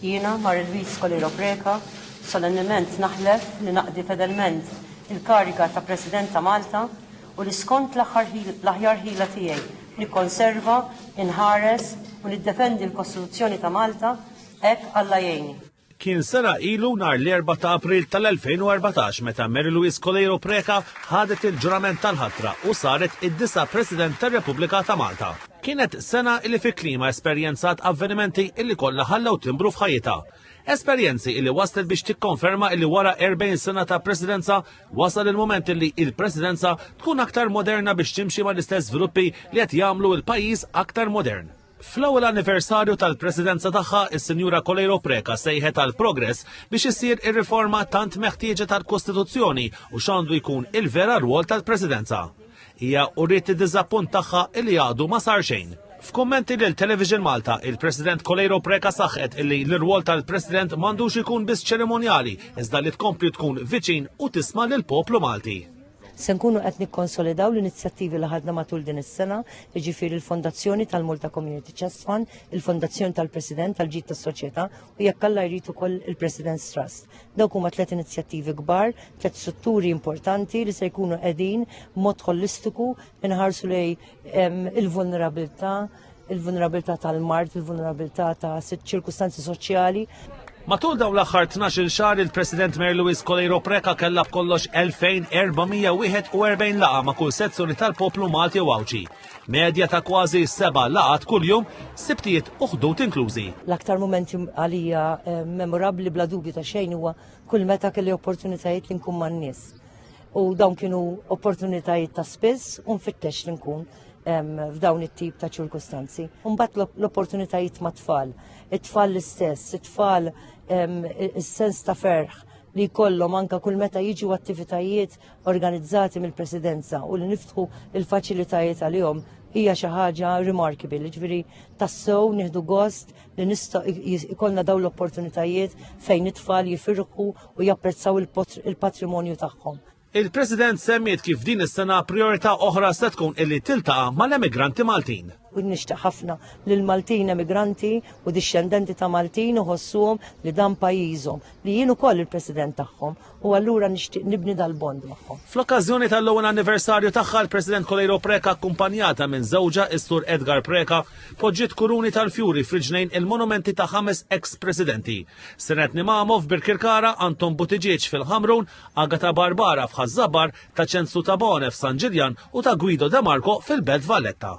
Jiena, Marie Louise Scolero Preca, solennement naħlef li naqdi fedelment il-kariga ta' President ta' Malta u li skont l-aħjar ħila tiegħi nikkonserva, inħares u niddefendi l-Kostituzzjoni ta' Malta, hekk Alla jgħinni. Kien sena ilu nhar l-Erbgħa ta' April tal-2014 meta Mary Louise Coleiro Preca ħadet il-ġurament tal-ħatra u saret id-disa' President tar-Repubblika ta' Malta. Kienet sena illi fi klima esperjenzat avvenimenti illi kollha ħallew timbru f'ħajjitha. Esperjenzi illi waslet biex tikkonferma illi wara 40 sena ta' presidenza wasal il-moment illi il-presidenza tkun aktar moderna biex timxi ma' l-istess żviluppi li qed jagħmlu il-pajjiż aktar modern. Fl-ewwel anniversarju tal-presidenza tagħha, is-Sinjura Coleiro Preca sejħet għal progress biex issir ir-riforma tant meħtieġa tal-Kostituzzjoni u x'għandu jkun il-vera rwol tal-presidenza. Hija uriet id-diżappunt tagħha illi għadu ma sar xejn. F'kummenti lil Television Malta, il-President Coleiro Preca saħqet illi l-irwol tal-President m'għandux ikun biss ċerimonjali, iżda li tkompli tkun viċin u tisma' lill-poplu Malti. Se nkunu qed nikkonsolidaw l-inizjattivi li ħadna matul din is-sena, jiġifieri l-Fondazzjoni tal-Malta Community Chest Fund, il-Fondazzjoni tal-President tal-Ġid tas-Soċjetà u jekk Alla jrid ukoll il-President's Trust. Dawk huma tliet inizjattivi kbar, tliet strutturi importanti li se jkunu qegħdin mod holistiku inħarsu lej il-vulnerabilità, il-vulnerabilità tal-mart, il-vulnerabilità ta' ċirkustanzi soċjali. Matul dawn l-aħħar 12 xahar il-President Mary Louise Coleiro Preca kellha b'kollox 2441 laqa ma' kull sezzjoni tal-poplu Malti u Għawġi. Medja ta' kważi seba' laqgħat kuljum, Sibtijiet u Ħdud inklużi. L-aktar mumenti għalija memorabbli bla dubju ta' xejn huwa kull meta kelli opportunitajiet li nkun man-nies. U dawn kienu opportunitajiet ta' spiss u nfittex li nkun f'dawn it-tip ta' ċirkustanzi. Mbagħad l-opportunitajiet ma' tfal, it-tfal l-istess, it-tfal is-sens ta' ferħ li jkollhom anka kull meta jiġu attivitajiet organizzati mill-Presidenza u li niftħu l-faċilitajiet għalihom hija xi ħaġa remarkable, jiġifieri tassew nieħdu gost li nista' jkollna dawn l-opportunitajiet fejn it-tfal jifirħu u japprezzaw il-patrimonju tagħhom. Il-President semmiet kif din is-sena priorità oħra se tkun illi tiltaqa' mal-emigranti Maltin. u nixtieq ħafna lil Maltin emigranti u dixxendenti ta' Maltin uħossuhom li dan pajjiżhom, li jien ukoll il-President tagħhom u allura nixtieq nibni dal-bond magħhom. Fl-okkażjoni tal-ewwel anniversarju tagħha l-President Coleiro Preca akkumpanjata minn żewġha is-Sur Edgar Preca poġġiet kuruni tal-fjuri f'riġlejn il-monumenti ta' ħames eks-Presidenti. Senet Nimamo f'Birkirkara, Anton Buttigieg fil-Ħamrun, Agata Barbara f'Ħaż-Żabar, ta' Ċensu Tabone f'San Ġiljan u ta' Guido De Marco fil-Belt Valletta.